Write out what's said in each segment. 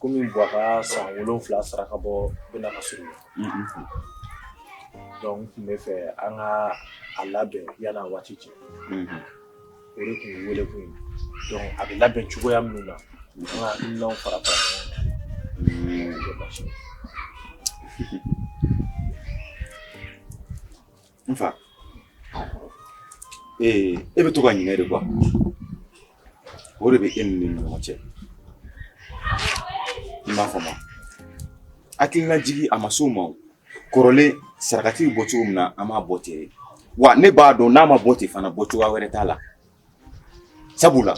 Kɔmi buwa ka san wolonwula saraka bɔ bɛ na se dɔnku n tun b'a fɛ an ka a labɛn yanni waati cɛ o de tun wele tun ye a bɛ labɛn cogoya minnu na an fara n fa ee e bɛ to ka ɲinɛ de kɔ wa o de bɛ e ni ne ɲɔgɔn cɛ i m'a fɔ ma hakilina jigi a ma s'o ma kɔrɔlen saraka tun bɛ bɔ cogo min na an b'a bɔ ten de wa ne b'a dɔn n'a ma bɔ ten fana bɔ cogoya wɛrɛ t'a la sabula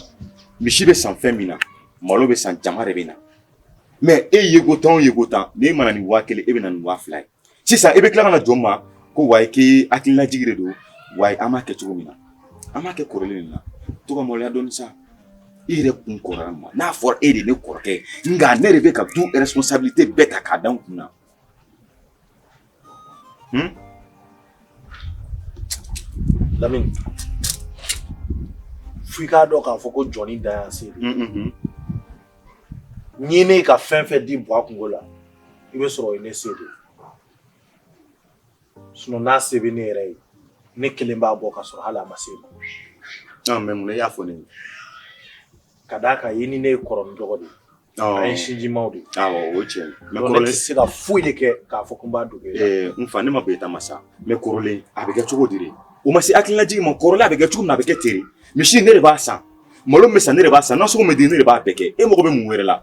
misi bɛ san fɛn min na malo bɛ san jama de bɛ na mɛ e yeko tan o yeko tan ne mana na ni waa kelen e bɛ na ni waa fila ye sisan i bɛ tila ka na jɔ n ma ko wa i k'i hakililajigi de don wa an b'a kɛ cogo min na an b'a kɛ kɔrɔlen de la to ka maloya dɔɔni sa i yɛrɛ kun kɔrɔya ma n'a fɔra e de ne kɔrɔkɛ nka ne de bɛ ka du responsabilité bɛɛ ta k'a da n kun na hmm? Lamini fo i k'a dɔn k'a fɔ ko jɔn dan y'a se de ye n ye ne ka fɛn fɛn di buwa kunko la i b'a sɔrɔ ne se de don n'a se bɛ ne yɛrɛ ye ne kelen b'a bɔ ka sɔrɔ hali a ma se e ma mɛ mun y'a fɔ ne ka d'a kan i ni ne ye kɔrɔ dɔgɔ de ye sinjimaw de o cɛ ne tɛ se ka foyi de kɛ k'a fɔ tun b'a dugu n fa ne ma ko e ta ma sa mɛ kɔrɔlen a bɛ kɛ cogo di o ma se hakililajigi ma kɔrɔlen a bɛ kɛ cogo min a bɛ kɛ ten de misi ne de b'a san malo bɛ san ne de b'a san nasɔngɔ bɛ di ne de b'a bɛɛ kɛ e mago bɛ mun wɛrɛ la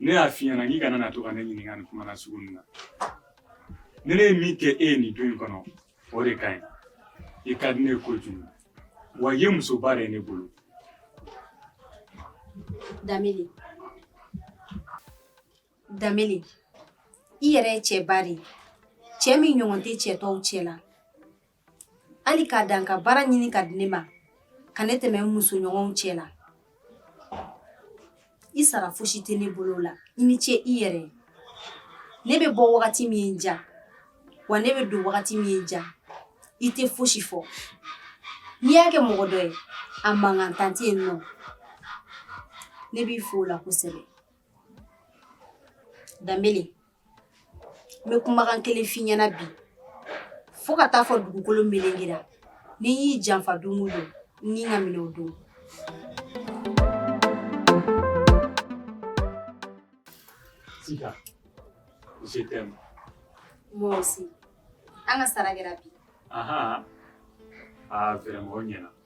ne y'a f'i ɲɛna k'i kana na to ka ne ɲininka nin kuma nasugu nin na ni ne ye min kɛ e ye nin du in kɔnɔ o de ka ɲi i ka di ne ye kojugu wa i ye musoba de ye ne bolo Danbele Danbele i yɛrɛ ye cɛba de ye cɛ min ɲɔgɔn tɛ cɛ tɔw cɛ la hali k'a dan ka baara ɲini k'a di ne ma ka ne tɛmɛ n musoɲɔgɔnw cɛ la i sara fosi tɛ ne bolo la i ni ce i yɛrɛ ye ne bɛ bɔ wagati min ye n ja wa ne bɛ don wagati min ye n ja i tɛ fosi fɔ n'i y'a kɛ mɔgɔ dɔ ye a mankan tan tɛ yen nɔ ne b'i fo o la kosɛbɛ Danbele n bɛ kumakan kelen f'i ɲɛna bi fo ka taa fo dugukolo melengera ni n y'i janfa don o don n ni ka minɛ o don Sika, je t'aime. Moi aussi. An ka sara kɛra bi. Ahan. Ah, vraiment o ɲɛna.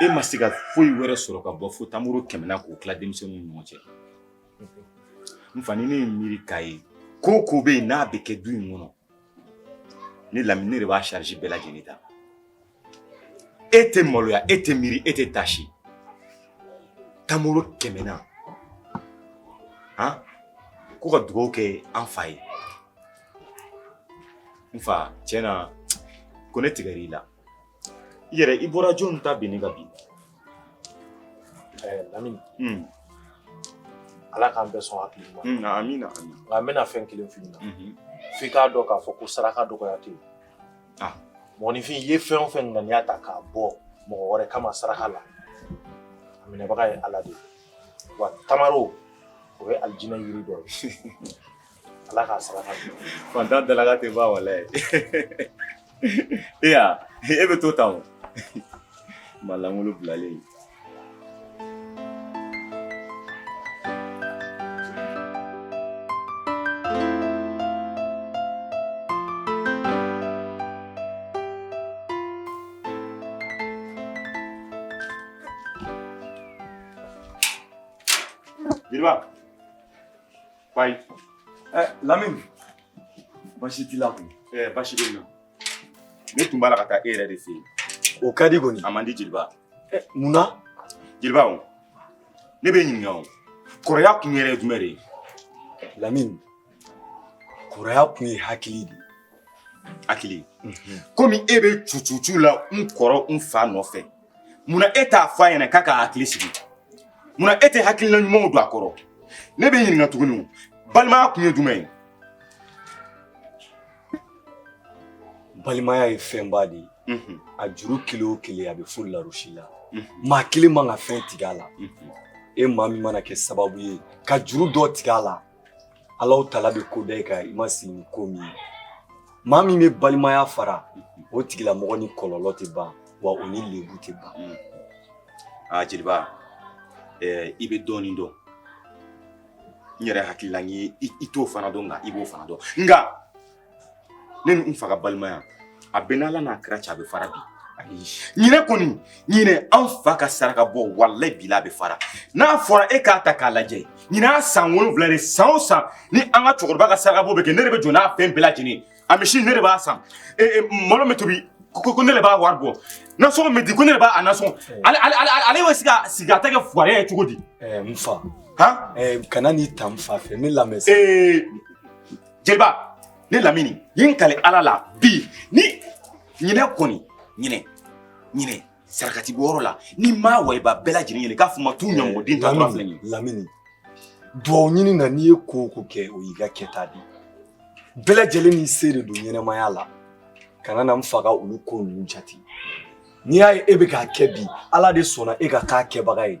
e ma se ka foyi wɛrɛ sɔrɔ ka bɔ fo tamaro kɛmɛ na k'o tila denmisɛnninw ni ɲɔgɔn cɛ n fa ni ne ye miiri k'a ye ko ko bɛ yen n'a bɛ kɛ du in kɔnɔ ne lamini ne de b'a sarisi bɛɛ lajɛlen ta e tɛ maloya e tɛ miiri e tɛ taasi tamaro kɛmɛ na han ko ka dugawu kɛ an fa ye n fa tiɲɛ na ko ne tigɛr'i la yɛrɛ i bɔra jɔnni ta binni ka bi lamini ala k'an bɛɛ sɔn hakili ma amina nka n bɛna fɛn kelen f'i ɲɛna f'i k'a dɔn k'a fɔ ko saraka dɔgɔya tɛ yen mɔgɔninfin i ye fɛn o fɛn ŋaniya ta k'a bɔ mɔgɔ wɛrɛ kama saraka la a minɛbaga ye ala de ye wa tamaro o ye alijinɛ yiri dɔ ye ala k'a saraka fantan dalaga tɛ ban walayi e y'a e bɛ to tan o ma lankolon bilalen Biriba. Bye. Eh, Lamine. Basi t'i la kun. Eh, basi bɛ n na. Ne tun b'a la ka taa e yɛrɛ de fɛ yen. O ka di kɔni. A man di Jeliba. Eh, mun na? Jeliba o. Ne b'e ɲininka o. Kɔrɔya kun yɛrɛ ye jumɛn de ye? Lamine. Kɔrɔya kun ye hakili de ye. Hakili. Komi e bɛ cucucu la n kɔrɔ n fa nɔfɛ. munna e t'a fɔ a ɲɛna k'a ka hakili sigi munna e tɛ hakilina ɲumanw don a kɔrɔ ne b'e ɲininka tuguni balimaya kun ye jumɛn ye balimaya ye fɛnba de ye a juru kelen o kelen a bɛ fo larosi la maa kelen man ka fɛn tigɛ a la e maa min mana kɛ sababu ye ka juru dɔ tigɛ a la Alawutala bɛ ko da i kan i ma sigi ni ko min ye maa min bɛ balimaya fara o tigilamɔgɔ ni kɔlɔlɔ tɛ ban wa o ni lebu tɛ ban hmm. aa ah, jeliba eh, i bɛ dɔɔnin dɔn n yɛrɛ hakilila ye i t'o fana dɔn nka i b'o fana dɔn nka ne ni n fa ka balimaya a bɛ n'ala n'a kira cɛ a bɛ fara bi ɲinan kɔni ɲinan an fa ka saraka bɔ walayi bila a bɛ fara n'a fɔra e k'a ta k'a lajɛ ɲinan a san wolonwula de san o san ni an ka cɛkɔrɔba ka saraka bɔ bɛ kɛ ne de bɛ jɔ n'a fɛn bɛɛ lajɛlen a misi ne de b'a san e, e, malo bɛ tobi ko ko ne de b'a wari bɔ nasɔngɔ bɛ di ko ne de b'a a nasɔngɔ ale ale ale ale bɛ se ka sigi a ta kɛ fuwariya ye cogo di. n fa. han kana n'i ta n fa fɛ ne lamɛn sa. ee jeliba ne lamini ye n kali ala la bi ni ɲinɛ kɔni ɲinɛ ɲinɛ sarakati bɔyɔrɔ la ni ma wayiba bɛɛ lajɛlen ɲini k'a fɔ ma t'u ɲamɔgɔden ta dɔrɔn filɛ nin ye lamini duwawu ɲini na n'i ye ko o ko kɛ o y'i ka kɛta de ye bɛɛ lajɛlen n'i se de don ɲɛnamaya la kana na n faga olu ko ninnu jate n'i y'a ye e bɛ k'a kɛ bi ala de sɔnna e ka k'a kɛbaga ye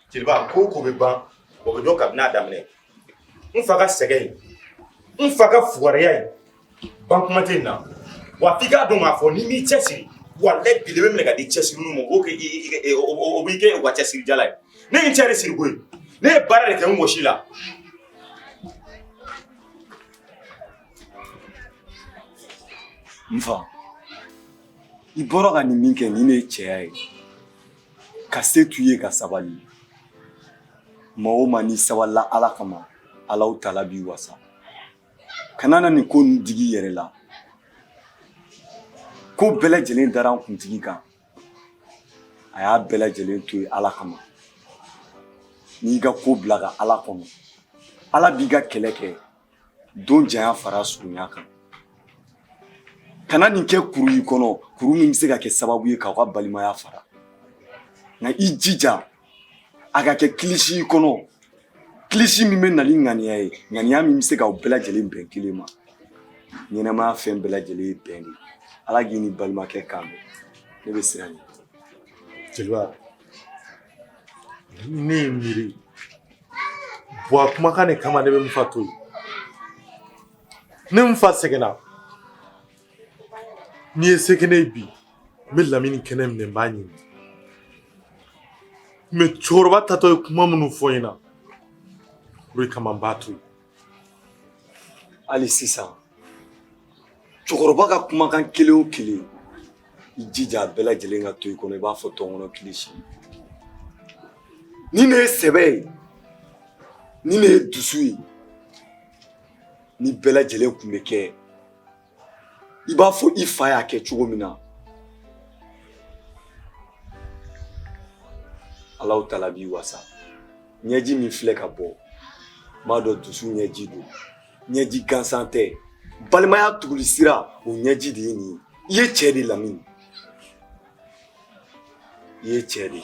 jeliba ko o ko bɛ ban o bɛ dɔn kabini a daminɛ n fa ka sɛgɛn ye n fa ka fugariya ye ban kuma tɛ na wa f'i k'a dɔn k'a fɔ n'i m'i cɛsiri walayi bi de bɛ minɛ ka di cɛsiriw ma o b'o kɛ o b'i kɛ u ka cɛsirijala ye ne ye n cɛ de siri koyi ne ye baara de kɛ n wɔsi la n fa i bɔra ka nin min kɛ nin de ye cɛya ye ka se t'u ye ka sabali maa o maa n'i sabalila ala kama alawutala b'i wasa kana na nin ko ninnu digi i yɛrɛ la ko bɛɛ lajɛlen dara an kuntigi kan a y'a bɛɛ lajɛlen to ye ala kama n'i ka ko bila ka ala kɔnɔ ala b'i ka kɛlɛ kɛ don janya fara surunya kan kana nin kɛ kuru y'i kɔnɔ kuru min bɛ se ka kɛ sababu ye k'aw ka balimaya fara nka i jija a ka kɛ kilisi i kɔnɔ kilisi min bɛ na ni ŋaniya ye ŋaniya min bɛ se k'aw bɛɛ lajɛlen bɛn kelen ma ɲɛnamaya fɛn bɛɛ lajɛlen ye bɛn de ye ala k'i n'i balimakɛ kan bɛn ne bɛ siran ɲɛ jeliba ne ye miiri buwa kumakan de kama ne bɛ n fa to yen ne n fa sɛgɛnna n'i ye se kɛnɛ ye bi n bɛ lamini kɛnɛ minɛ n b'a ɲimi mɛ cɛkɔrɔba taatɔ ye kuma minnu fɔ n ɲɛna o de kama n b'a to yen hali sisan cɛkɔrɔba ka kumakan kelen o kelen i jija a bɛɛ lajɛlen ka to i kɔnɔ i b'a fɔ tɔnkɔnɔ kilisi nin de ye sɛbɛ ye nin de ye dusu ye nin bɛɛ lajɛlen kunbɛn kɛ i b'a fɔ i fa y'a kɛ cogo min na alawutala b'i wasa ɲɛji min filɛ ka bɔ m'a dɔn dusu ɲɛji don ɲɛji gansan tɛ balimaya tuguli sira o ɲɛji de ye nin ye i ye cɛɛ de lamini i ye cɛɛ de ye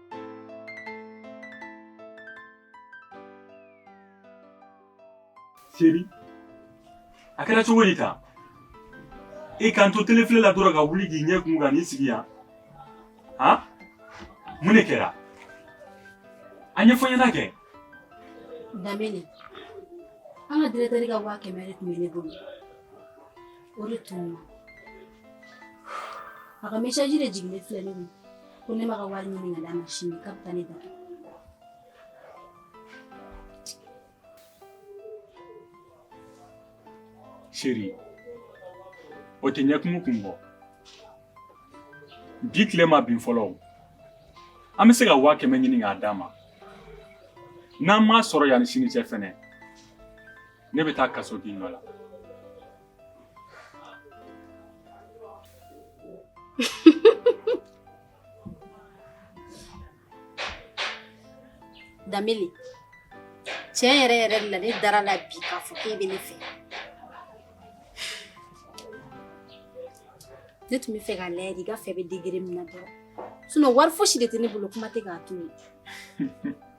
Seri a kɛra cogo di tan e ka n to tele filɛ la dɔrɔn ka wuli k'i ɲɛ kumu ka n'i sigi yan han mun de kɛra a ɲɛfɔ n ɲɛna kɛ Danbele an ka diretɛri ka waa kɛmɛ de tun bɛ ne bolo o de tununna a ka mesaji de jiginnen filɛ ne kun ko ne m'a ka wari ɲini k'a d'a ma sini k'a bɛ taa ne datugu seri o tɛ ɲɛkumu kun bɔ bi tile ma bin fɔlɔ o an bɛ se ka waa kɛmɛ ɲini k'a d'a ma n'an m'a sɔrɔ yanni sini cɛ fɛnɛ ne bɛ taa kaso k'i nɔ la Danbele tiɲɛ yɛrɛ yɛrɛ la ne dar'a la bi k'a fɔ k'e bɛ ne fɛ ne tun b'a fɛ k'a lajɛ de i ka fɛ bɛ degere min na dɔrɔn sinɔn wari fosi de tɛ ne bolo kuma tɛ k'a to yen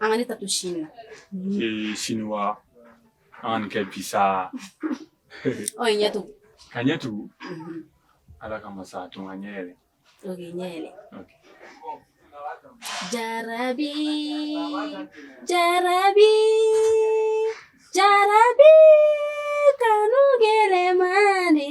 An ka ne ta to sini na. Ee sini wa? An ka nin kɛ bi sa. Ɔ i ɲɛ tugu. Ka n ɲɛ tugu? Ala kama sa a to n ka n ɲɛ yɛlɛ. Ok i ɲɛ yɛlɛ. Ok. Jarabi, jarabi, jarabi kanu gɛlɛman de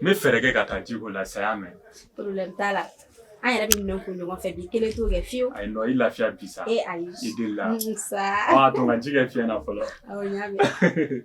N bɛ fɛɛrɛ kɛ ka taa ji ko la sa y'a mɛn t'a la an yɛrɛ bɛ minɛn ko ɲɔgɔn fɛ bi i kelen t'o kɛ fiyewu ayi i lafiya bi sa e ayi i deli la aa to ji kɛ fiɲɛ na fɔlɔ awɔ n y'a mɛn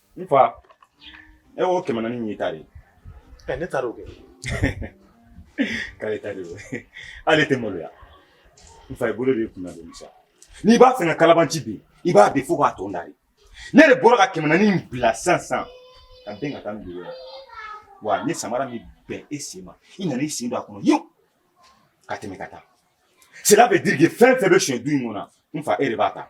N fa e y'o kɛmɛ naani nin ta de ye ne taara'o kɛ k'ale ta de ale tɛ maloya n fa i bolo de kun sa n'i b'a fɛ ka kalabanci bi i b'a bi fo k'a tɔn da ne de bɔra ka kɛmɛ naani bila sisan sisan ka bɛn ka taa dugu wa ni samara min bɛn e sen ma i nana i sen don a kɔnɔ yen ka tɛmɛ ka taa sira bɛ di fɛn fɛn bɛ son du in kɔnɔ n fa e de b'a ta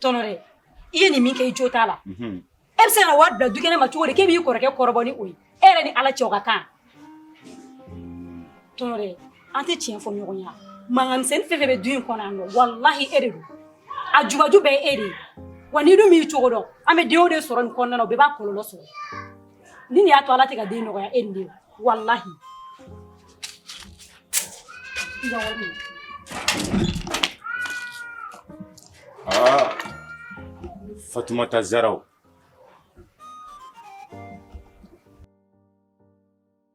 tɔnɔ dɛ i ye nin min kɛ i jo t'a la e bɛ se ka na wari bila du kɛnɛ ma cogo di k'e b'i kɔrɔkɛ kɔrɔbɔ ni o ye e yɛrɛ ni ala cɛ o ka kan tɔnɔ dɛ an tɛ tiɲɛ fɔ ɲɔgɔn ye mankan misɛnnin fɛn fɛn bɛ du in kɔnɔ yan nɔ walahi e de don a jubaju bɛɛ e de ye wa n'i dun m'i cogo dɔn an bɛ denw de sɔrɔ nin kɔnɔna na o bɛɛ b'a kɔlɔlɔ sɔrɔ ni nin y'a to ala tɛ ka den nɔgɔya e ni de walahi aa fatumata zaraw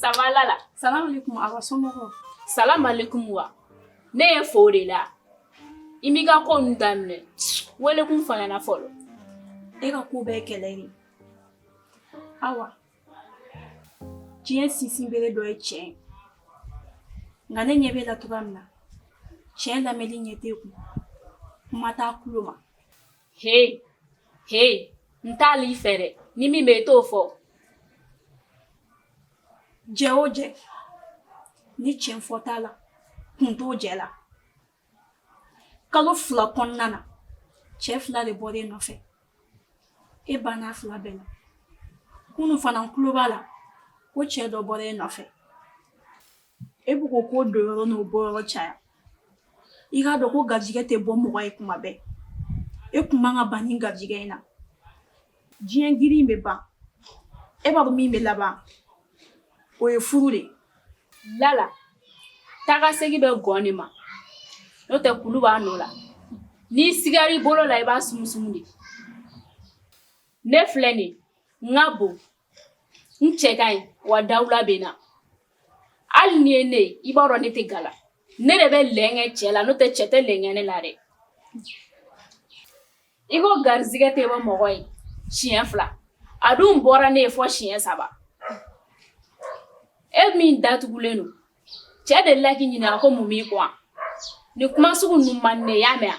Sabalala salamu alekum a somɔgɔw salamalekum wa ne ye fo de la i m'i ka ko nin daminɛ wele kun f'an ɲɛna fɔlɔ e ka ko bɛɛ kɛlɛ de awa diɲɛ sinsinbere dɔ ye tiɲɛ ye nka ne ɲɛ b'e la cogoya min na tiɲɛ lamɛnni ɲɛ t'e kun kuma t'a tulo ma he he n t'a deli i fɛ dɛ ni min bɛ i t'o fɔ jɛ o jɛ ni tiɲɛ fɔ t'a la kun t'o jɛ la kalo fila kɔnɔna na cɛ fila de bɔra e nɔfɛ e banna fila bɛɛ la kunu fana n tulo b'a la ko cɛ dɔ bɔra e nɔfɛ E bɛ ko ko don yɔrɔ n'o bɔ yɔrɔ caya i k'a dɔn ko garijɛgɛ tɛ bɔ mɔgɔ ye kuma bɛɛ e tun man kan ka ban nin garijɛgɛ in na diɲɛ girin bɛ ban e b'a dɔn min bɛ laban o ye furu de lala taga ka segin bɛ gɔn de ma n'o tɛ kulu b'a nɔ la n'i sigara i bolo la i b'a sumusumu de ne filɛ de n ka bon n cɛ ka ɲi wa dawula bɛ n na hali n'i ye ne ye i b'a dɔn ne tɛ gala ne de bɛ lɛnkɛ cɛ la n'o tɛ cɛ tɛ lɛnkɛ ne la dɛ i ko garijɛgɛ tɛ bɔ mɔgɔ ye siɲɛ fila a dun bɔra ne ye fɔ siɲɛ saba e min datugulen don cɛ de la k'i ɲininka ko mun b'i kɔ ni kuma sugu ninnu man di ne ye i y'a mɛn wa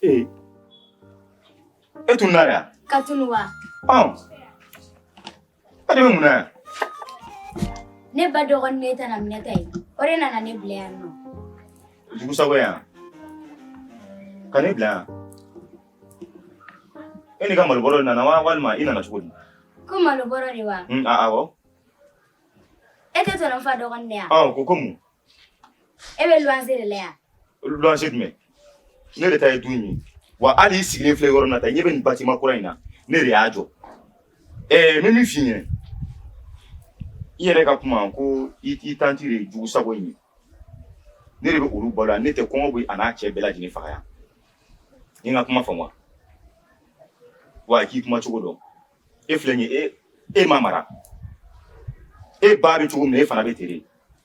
Ee e tun nana yan ka tunu wa e de bɛ mun na yan ne ba dɔgɔnin ne tɛna minɛ ta ye o de nana ne bila yan nɔ jugusago yan ka ne bila yan e n'i ka malobɔrɔ de nana wa walima i nana cogo di ko malobɔrɔ de wa awɔ e tɛ tɔnɔ fa dɔgɔnin de yan ko ko mun e bɛ luwanse de la yan luwanse jumɛn ne yɛrɛ ta ye du in ye wa hali i sigilen filɛ yɔrɔ na ta ɲɛ bɛ nin batiman kura in na ne de y'a jɔ ɛɛ n bɛ min f'i ɲɛna i yɛrɛ ka kuma ko i tanti de ye jugu sago in ye ne de bɛ olu balo yan ne tɛ kɔngɔ bɛ a n'a cɛ bɛɛ lajɛlen faga yan i ka kuma faamu wa k'i kuma cogo dɔn e filɛ nin ye e e ma mara e ba bɛ cogo min na e fana bɛ ten de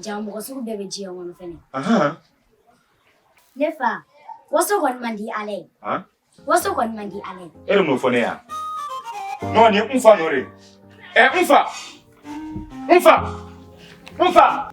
Jaa mɔgɔ sugu bɛɛ bɛ diɲɛ kɔnɔ fɛnɛ. Ahan. Ne fa, waso kɔni man di Ala ye. Han? Waso kɔni man di Ala ye. E de m'o fɔ ne ye a? Non nin ye n fa nɔ de ye. Ɛ n fa! N fa! N fa!